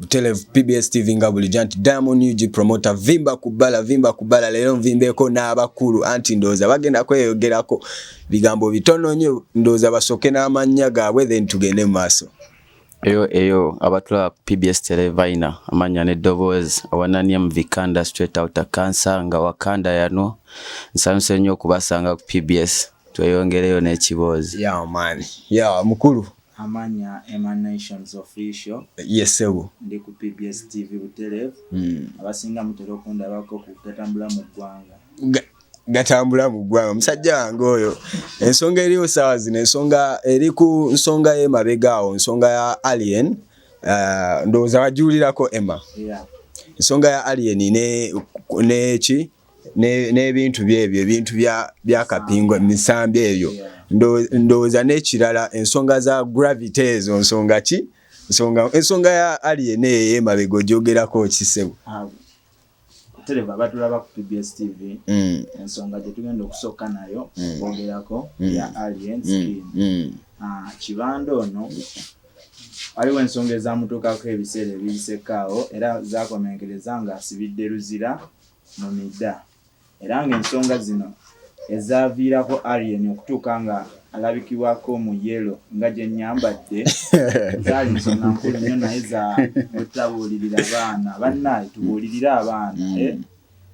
Butelev PBS TV nga bulijjo anti Diamond UG promoter vimba kubala vimba kubala leero nvimbeko n'abakulu anti ndooza bagenda kweyogerako bigambo bitono nnyo ndooza basooke n'amannya gaabwe then tugende mu maaso eyo eyo abatula PBS Televaina amanya ne Doboz awanani mvikanda straight out of cancer nga wakanda yano nsanuse nnyo kubasanga ku PBS tweyongereyo n'ekiboozi yeah man yeah mukulu Amanya Emanations Official. Yes, sebo. Ndi ku PBS TV Butelevu. Mm. Abasinga mutera okundabako ku gatambula mu ggwanga. Ga gatambula mu ggwanga. Musajja wange oyo. Ensonga eri osawa zino ensonga eri ku nsonga ye mabega awo nsonga ya Alien. Uh, ndoza wajulirako Emma. Yeah. Nsonga ya Alien ne ne ki? n'ebintu byebyo ebintu bya kapingo emisambi ebyo ndowooza n'ekirala ensonga za gravity ezo nsonga ki ensonga ya alien eyo emabega ogyogerako kisebo ah, tereva batulaba ku pbs tv mm. ensonga gyetugenda okusooka nayo mm. kwogerako mm. ya alien skin ah, kibanda ono waliwo ensonga ezamutuukako ebiseera ebiyisekaawo era zakomenkereza nga asibidde luzira mu midda era ng'ensonga zino ezaaviirako Alien okutuuka nga alabikibwako mu yellow nga gye nnyambadde zaali nsonga nkulu nnyo naye za butabuulirira baana bannaye tubuulirire abaana mm. eh?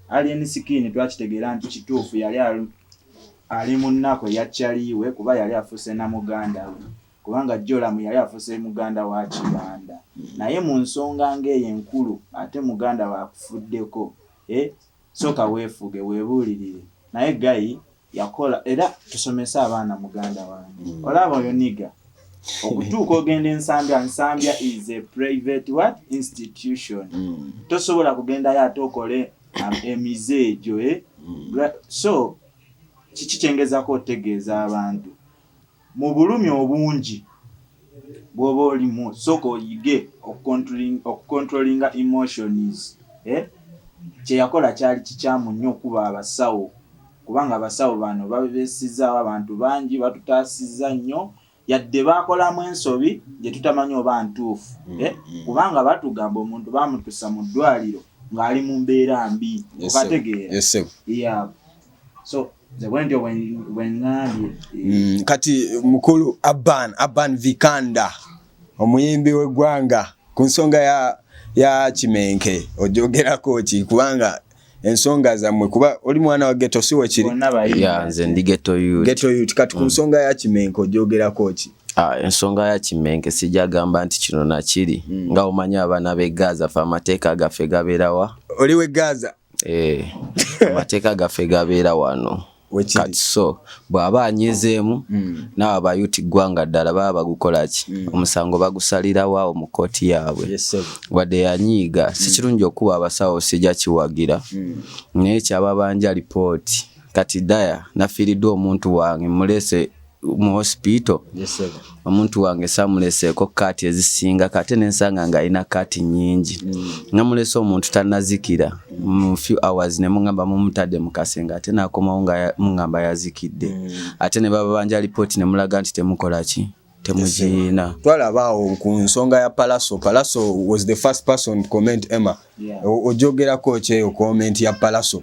Alien Skin twakitegeera nti kituufu yali ali mu nnaku eya Chaliwe kuba yali afuuse na muganda we kubanga Joramu yali afuse muganda wa Kibanda naye mu nsonga ng'eyo enkulu ate muganda waakufuddeko eh, sooka weefuge weebuulirire naye gayi yakola era tusomese abaana muganda wange mm. olaba oyo niga okutuuka ogenda ensambya nsambya is a private what institution mm. tosobola kugendayo ate okole um, emize egyo eh? mm. so kiki kyengezako otegeeza abantu mu bulumi obungi bwoba olimu sooka oyige okucontrolinga emotions eh? kyeyakola kyali kikyamu nnyo okukuba abasawo kubanga abasawo bano babesizaawo abantu bangi batutaasizza nnyo yadde bakolamu ensobi gye tutamanyi oba ntuufu mm, eh? mm. kubanga batugamba omuntu bamutusa mu ddwaliro ng'ali mu mbeera mbi okategeera so mm, kati mukulu aban aban vikanda omuyimbi wegwanga ku nsonga ya, ya kimenke ojogerako ki kubanga ensonga zammwe kuba oli mwana wa geto si wekiri nze ndi geto yut kati ku mm. nsonga ya kimenke ojogerako ki Ah, ensonga ya kimenke sijagamba nti kino nakiri mm. nga omanyi abaana be gaza fe amateeka gaffe gaberawa oli we gaza eh, amateeka gaffe gabeera wano kati so bw'aba anyizeemu hmm. naawe abayuti ggwanga ddala baba bagukolaki hmm. omusango bagusalirawoawo mu kkooti yaabwe wadde yanyiiga hmm. si kirungi okukuba abasawo sijja kiwagira naye kyababanja lipooti kati daya nafiiriddwa omuntu wange mulese mu hospital omuntu wange samuleseeko kaati ezisinga kate nensanga nga alina kaati nyingi mm. namulese omuntu tanazikira mu few hours nemugamba mumutadde mukase nga ate nakomawo nga mugamba yazikidde mm. ate nebabanja lipooti nemulaga nti temukolaki temuziina twalabaawo ku nsonga ya palaso palaso was the first person to comment emma ojogerako kyeyo comment ya palaso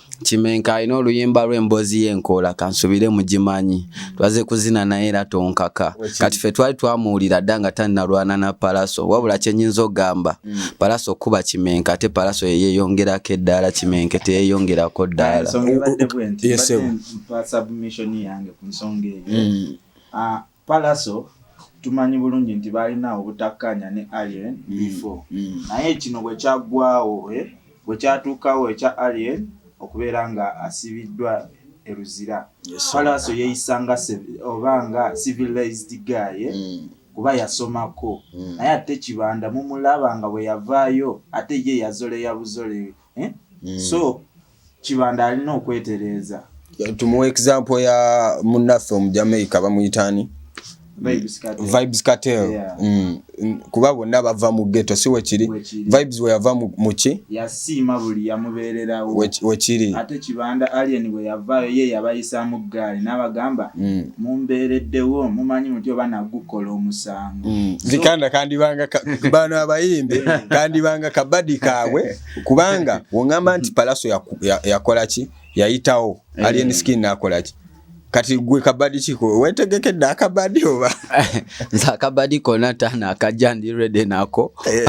kimenka alina oluyimba lw'emboozi y'enkoola kansubire mugimanyi twaze kuzina naye era tonkaka kati ffe twali twamuwulira dda nga tannalwana na palaso wabula kyenyinza ogamba mm. palaso okuba kimenka ate palaso yeyeyongerako eddaala kimenke teyeyongerako ddaala palaso tumanyi bulungi nti baalina obutakkaanya ne alien mm, before mm. naye kino bwe kyaggwawo eh, bwe kyatuukawo ekya alien okubeera nga asibiddwa eruzira palaso yeeyisanga oba nga civilized guy eh, mm. kuba yasomako naye ate kibanda mumulaba nga bwe yavaayo ate ye yazoleya buzole eh? so kibanda alina okwetereeza tumuwa example ya munaffe omujamaica bamuyitaani vibes cartel yeah. mm. kuba bonna bava mu geto si wekiri vibes weyava muki yasiima buli yamubeererawo wekiri ate kibanda alien bwe yavaayo ye yabayisaamu ggaali n'abagamba mm. mumbeereddewo mumanyi muti oba nagukola omusango mm. zikanda kandibanga bano abayimbi kandibanga kabadi kaabwe kubanga wongamba nti palaso yakola ki yayitawo eh. alien skin nakola ki kati gwe kabadi kiko wetegekedde akabadi oba nze akabadi kona tana akajja ndi rede nako eh.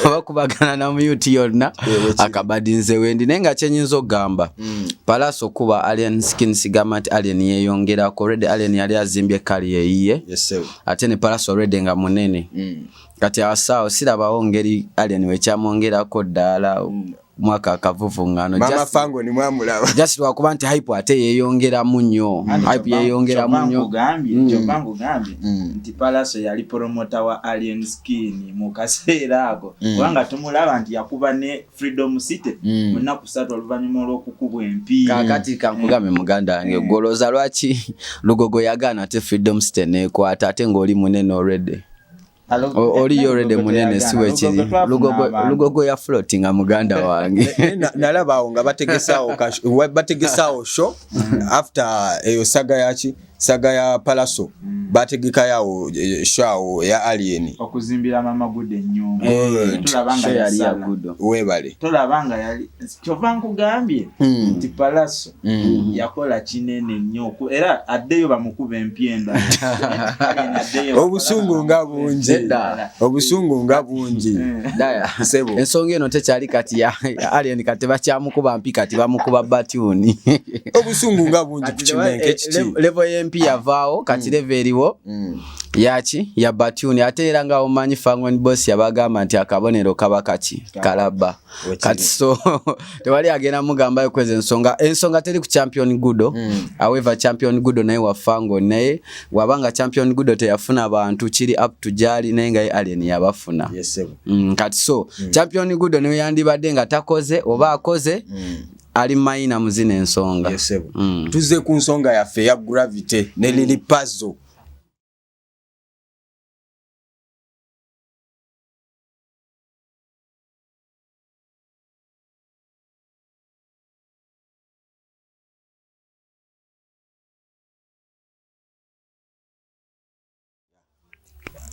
oba kubagana na muyuti yonna eh, akabadi nze wendi naye nga kyenyinza okugamba mm. palaso kuba alien skin sigamba nti alien yeyongerako rede alien yali azimbye kali yeyiye ate ne palaso rede nga munene mm. kati awasaawo sirabawo ngeri alien wekyamwongerako ddaala mwaka akavuvungano just lwakuba nti hype ate yeyongeramu nnyo hype yeyongeramu nnyo palaso yali promota wa alien skin mu kaseera ako mm. kubanga tumulaba nti yakuba ne freedom city mm. mu nnaku satu oluvannyuma olw'okukubwa empi kakati kankugambe mm. muganda wange gwolooza lwaki lugogo yagaana ate freedom city neekwata ate ng'oli munene olwedde oli yorede munene si wekiri lugogo ya floti nga muganda wange nalaba awo nga bategesaawo sho after eyo saga yaki saga ya palaso mm. bategeka yawo eh, shawo ya alien okuzimbira mama gude nyumba eh, tulabanga yali ya gudo webale tulabanga yali kyova nkugambye mm. nti palaso Mm. yakola kinene nnyo era addeyo bamukuba empyenda obusungu nga bungi obusungu nga bungi mm. ensonga eno tekyali kati alien kati bakyamukuba mpi kati bamukuba batyuni obusungu nga bungi kukimenke eh, kiti levo y'empi yavaawo kati mm. levo eriwo yaki ya batyuni ate era nga omanyi fangon bos yabagamba nti akabonero kaba kaki kalabba kati so tewali agenda mugamba yokweza ensonga ensonga teri ku champion gudo mm. however champion gudo naye wafango naye wabanga champion gudo teyafuna bantu kiri up to jali naye nga alien yabafuna yes, mm, kati so mm. champion gudo niwe yandibadde nga takoze oba akoze mm. ali mayina muzina ensonga yes, mm. tuze ku nsonga yaffe ya gravity ne mm. lili pazo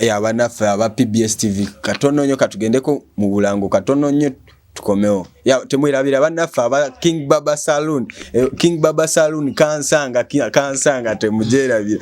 abanaffe aba pbs tv katono nyo katugendeko mu bulango katono nyo tukomewo temwerabira banaffe aba king baba saloon eh, king baba saloon kansanga kansanga temujerabira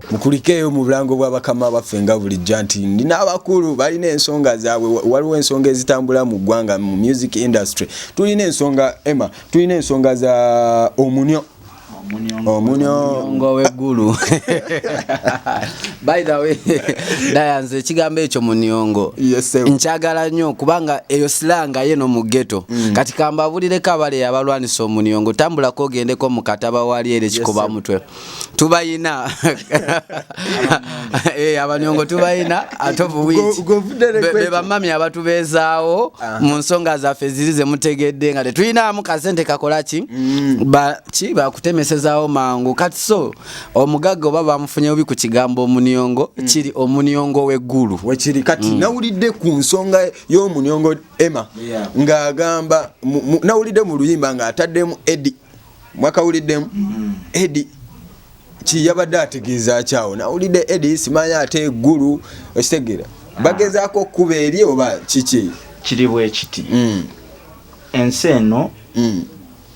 mukulikeeyo mu bulango bwa bakama baffe nga bulijja nti nina abakulu balina ensonga zaabwe waliwo ensonga ezitambula mu ggwanga mu music industry tulina ensonga emma tulina ensonga za omunyo omunyongo weggulu by the way dayanze ekigambo ekyo munyongo nkyagala nnyo kubanga eyo silanga ye no mu geto mm. kati kambabulireko abale yabalwanisa omunyongo tambulako ogendeko mu kataba wali ere kikuba mutwe tubayina eh, abanyongo tubayina ate bebamami abatubeezaawo ah. mu nsonga zaffe ziri zemutegedde nga tetuyinaamu kasente kakola ki mm. ki bakutemesezaawo mangu kati so omugagga oba bamufunye bubi ku kigambo omunyongo mm. kiri omunyongo w'eggulu wekiri kati mm. nawulidde ku nsonga y'omunyongo emma ng'agamba nawulidde mu luyimba ng'ataddemu edi mwakawuliddemu mm. edi kiyabadde ategeeza kyawo nawulidde edi simanyi ate eggulu okitegera ah. bagezaako okukuba eri oba kiki kiri bwekiti mm. ensi eno mm.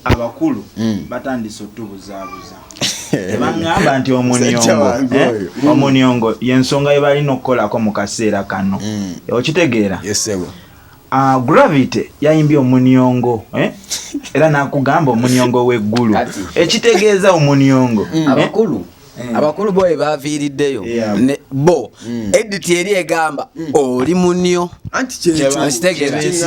abakulu mm. batandise otubuzaabuza ebangamba nti omuniongo eh? omuniongo yensonga yebalina okukolako mu kaseera kano okitegeera Ah, gravity yayimbye omunyongo eh? era nakugamba omunyongo weggulu ekitegeeza omunyongo mm. eh? abakulu mm. abakulu bo ebaviiriddeyo bo mm. edit eri egamba oli munyo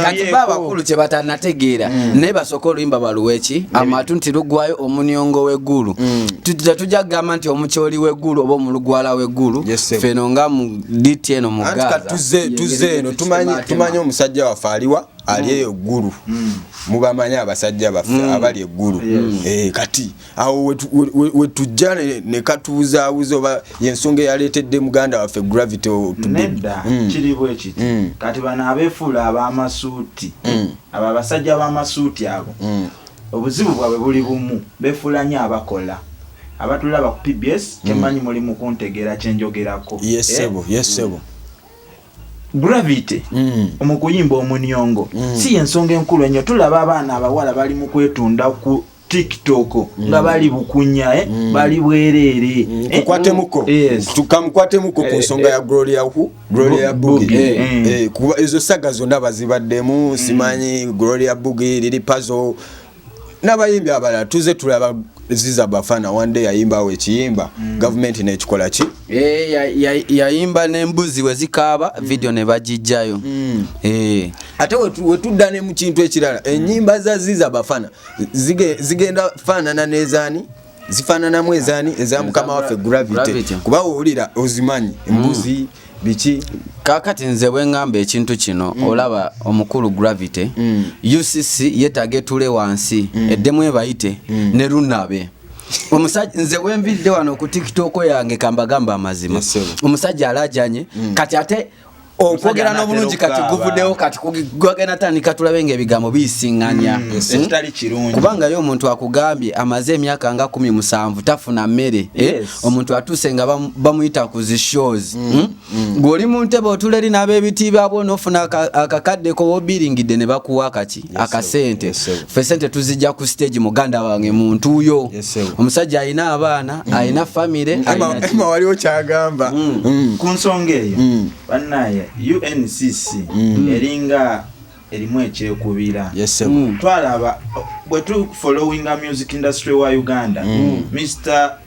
katiba abakulu kyebatanategeera naye basooka oluyimba baluweki amatu nti lugwayo omunyongo weggulu tetujja kugamba nti omukyoli weggulu oba omulugwala weggulu feno nga diti eno mu Gaza tuze tuze eno tumanyi tumanyi omusajja wa faliwa ali mm. eyo guru mm. mubamanyi abasajja baffe mm. abali eguru eh kati awo we, we, we, we tujane ne katuza uzo ba yensonge yaletedde muganda waffe gravity to be mm. kiri bwe kiti mm. kati bana abefula abamasuti mm. ababasajja abamasuti abo mm. Obuzibu bwabwe buli bumu befuula nyo abakola. Abatulaba ku PBS kyemanyi mm. muli mukuntegeera kyenjogerako. Yes eh? sebo, yes mm. sebo. Gravity mm. omukuyimba omunyongo mm. si yensonga enkulu enyo tulaba abaana abawala bali mu kwetunda ku tiktok mm. nga bali bukunya eh? mm. bali bwereere mm. eh? tukwatemuko yes. tukamukwatemuko ku eh, nsonga eh, ya gloria hu Gloria Bugi eh, mm. eh, kuba ezo saga zonna bazibaddemu mm. simanyi Gloria Bugi lili pazo n'abayimbi abalala tuze tulaba ziza bafana one day yayimbawo ekiyimba mm. gavumenti nekikola ki eh, yayimba n'embuzi we zikaaba mm. vidiyo ne bagijjayo mm. eh. ate wetudda ne mu kintu ekirala ennyimba za ziza bafana zigenda faanana n'ezaani zifananamu ezani eza mukama waffe gravity kuba wowulira ozimanyi hmm. embuzi mm. biki kakati nze bwengamba ekintu kino mm. olaba omukulu gravity mm. ucc yetaga etule wansi mm. eddemu ebayite mm. ne lunabe omusajja nze wenvidde wano ku tiktok yange kambagamba amazima yes, omusajja alajanye mm. kati ate okwogera n'obulungi kati guvuddewo kati gwagenda tandika tulabe nga ebigambo biyisinganya mm, hmm? ekitali kirungi kubanga ye omuntu akugambye amaze emyaka nga kumi musanvu tafuna mmere eh? omuntu atuuse nga bamuyita ku zi shows mm, hmm? mm. gw'oli mu ntebe otula eri n'ab'ebitiibwa bwona ofuna akakaddeko wobiringidde ne bakuwa kaki akasente fe sente tuzijja ku stage muganda wange muntu yo omusajja alina abaana mm. alina famire ema waliwo kyagamba mm. mm. ku nsonga eyo banaye uncc eringa erimu ekyekubira twalaba bwetufolowinga music industry wa uganda mr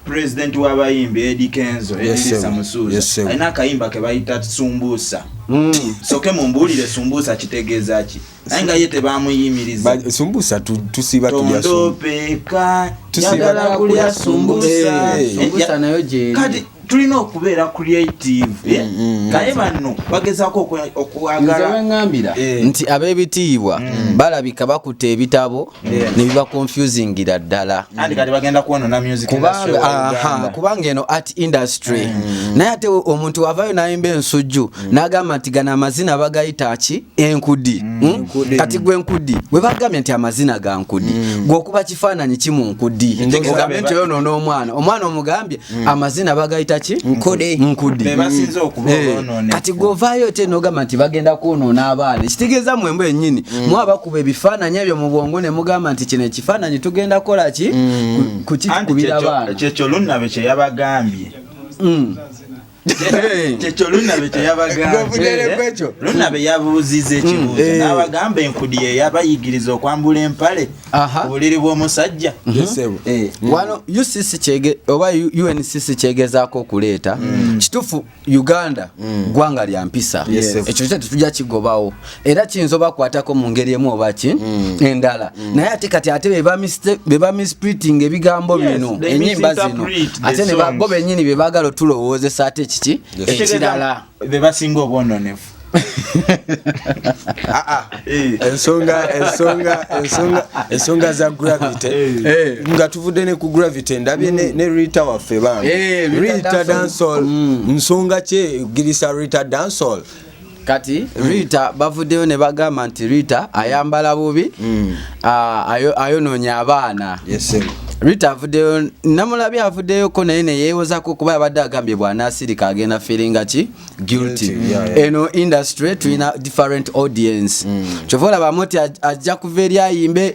President wa bayimbi Eddie Kenzo Edisa Musuuza alina akayimba ke bayita Sumbusa mm. soke mumbuulire Sumbusa kitegeeza ki naye nga ye tebamuyimiriza Sumbusa tusiba tulya Sumbusa yagala kulya Sumbusa eh, eh, eh. nayo gyeri kati tulina okubeera creative mm, mm, naye banno bagezaako okwagala nti ab'ebitiibwa balabika bakutte ebitabo nebiba confusingira ddala kubanga eno art industry mm. naye ate omuntu wavayo nayimba ensujju mm. nagamba nti gano amazina bagayita ki enkudi mm. hmm? kati gwe nkudi webagambye nti amazina ga nkudi gweokuba kifaananyi ki mu nkudi ogambe nti oyonoona omwana omwana omugambye Mm. amazina bagayita ki nkude mm. kati govayo te nogamba nti bagenda kwonoona abaana ekitegeeza mwembu enyini mm. mwabakuba ebifaananyi ebyo mu bwongo ne mugamba nti kino ekifaananyi tugenda kukola ki kukikubira abaana kyekyo lunnabe kyeyabagambye kyekyo lunabe kyeyabagambyeekyo lunabe yabuuziza ekibuuzo mm. eh. n'abagamba enkudi yeyabayigiriza okwambula empale obuliri bw'omusajja mm-hmm. eh. wano ucc oba uncc kyegezaako okuleeta mm. kitufu uganda mm. gwanga lya mpisa ekyo kyete tujja kigobawo era kiyinza obakwatako mu ngeri emu oba ki mm. endala mm. naye ate kati ate bebamispriting ebigambo bino enyimba zino ate bo benyini bebagala otulowoozesa ate kiki ekirala bebasinga obwononefu ah, ah. Eh. ensonga za gravity eh. Eh. nga tuvudde ne ku gravity ndabye ne mm. rita waffe bambi rita dansol mm. nsonga kye girisa rita dansol kati rita bavuddeyo ne bagamba nti rita ayambala bubi mm. ah, ayonoonya abaana rita avuddeyo namulabi avuddeyoko naye neyewozako kuba yabadde agambye bwanasirika agenda feelinga ki guilty eno industry tulina different audience mm. kyova olabamu nti ajja kuva eri ayimbe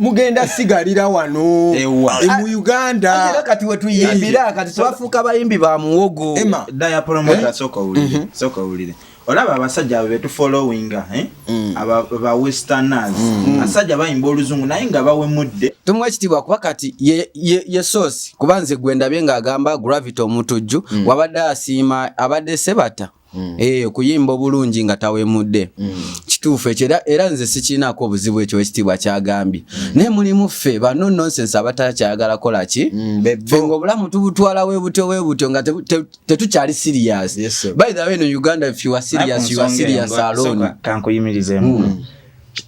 mugenda sigalira wano e mu uganda kati wetuyimbira kati twafuuka bayimbi ba muwogo olaba abasajja abo betufollowinga eh? mm. ba westerners mm. abasajja bayimba oluzungu naye nga bawemudde tumuwa ekitiibwa kuba kati ye sosi kuba nze gwendabye ng'agamba gravity omutujju mm. wabadde asiima abadde sebata mm. eh, okuyimba obulungi nga tawemudde mm. kituufu ekyo era nze sikiinaako obuzibu ekyo ekitiibwa kyagambye mm. naye mulimu ffe bano nonsense abatakyayagala kola ki mm, fe nga obulamu tubutwala webutyo webutyo nga tetukyali siriyasi by the way no uganda if you are serious you are serious alone kankuyimirizemu mm.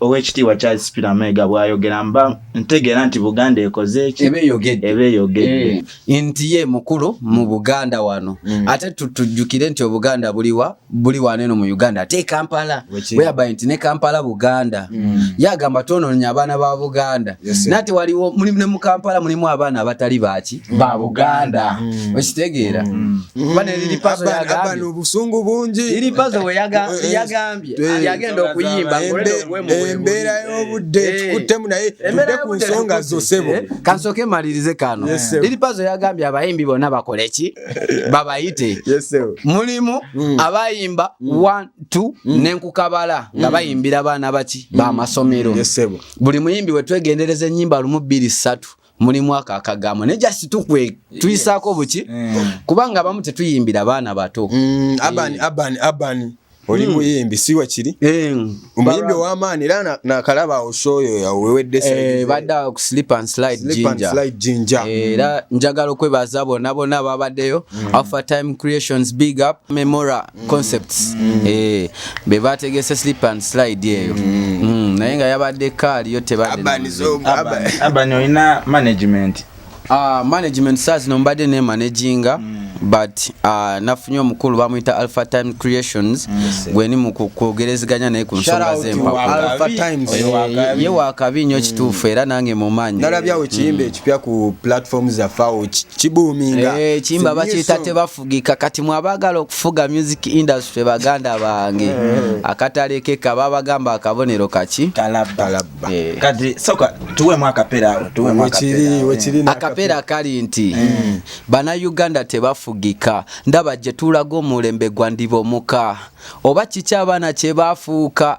owekitiibwa charles peter mega bwayogera mba ntegeera nti buganda ekoze eki eba eyogedde eh, nti ye mukulu mu buganda wano mm. ate tujjukire nti obuganda buliwa buli waneno mu uganda ate e kampala weyaba nti ne kampala buganda mm. yagamba twononya abaana ba buganda nati waliwo mulimu ne mu kampala mulimu abaana abatali baki mm. ba buganda okitegeera obusungu bungi iripazo weyagambye yagenda okuyimba embeera y'obudde eh. tukuttemu naye tudde ku nsonga zo sebo eh, kansooke malirize kano liri pazo yagambye abayimbi bonna bakole ki babayite mulimu hmm. abayimba hmm. one two hmm. nenkukabala nga bayimbira baana baki bamasomero buli muyimbi wetwegendereza enyimba lumu bbiri ssatu mulimu ako akagambo naye just tukwe tuyisaako buki mm. kubanga abamu tetuyimbira baana bato mm, abani eh. abani abani oli mm. muyimbi si wakiri eh, omuyimbi ow'amaani era nakalaba oshoyo yawewedde eh, badde ku slip and slide ginger era njagala okwebaza bona bona babaddeyo alpha time creations big up memora mm. concepts mm. eh be bategese slip and slide eyo mm. mm. naye nga yabadde kaali yo tebadde abani olina management uh, management saa zino mbadde ne managinga mm. but uh, nafunye omukulu bamuyita alpha time creations mm. gweni mu kwogerezeganya naye ku nsonga zempawye wakabi nnyo mm. kituufu era nange mumanyi nalabyawo ekiyimba ekipya ku platform zafawo kibuuminga eh, ekiyimba bakiyita teba fugika kati mwabagala okufuga music industry baganda bange eh. akatale ke kaba bagamba akabonero kaki talabba eh. kati soka tuwe mwaka pera tuwe mwaka pera wekiri na akapera kali nti eh. bana Uganda tebafugika ndaba je tulago mulembe gwandibo muka oba kicha bana che bafuka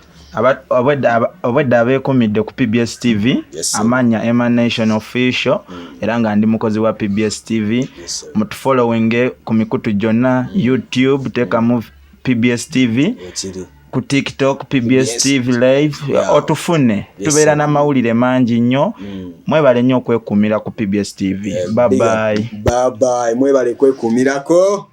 obwedda abeekumidde ku pbs tv amanya emanation official mm. era nga ndi mukozi wa pbs tv mutufollowinge ku mikutu gyonna mm. youtube teekamu pbs tv ku tiktok pbs tv live otufune tubeera n'amawulire mangi nnyo mm. mwebale nnyo okwekuumira ku pbs tv babayi eh, mwebale kwekuumirako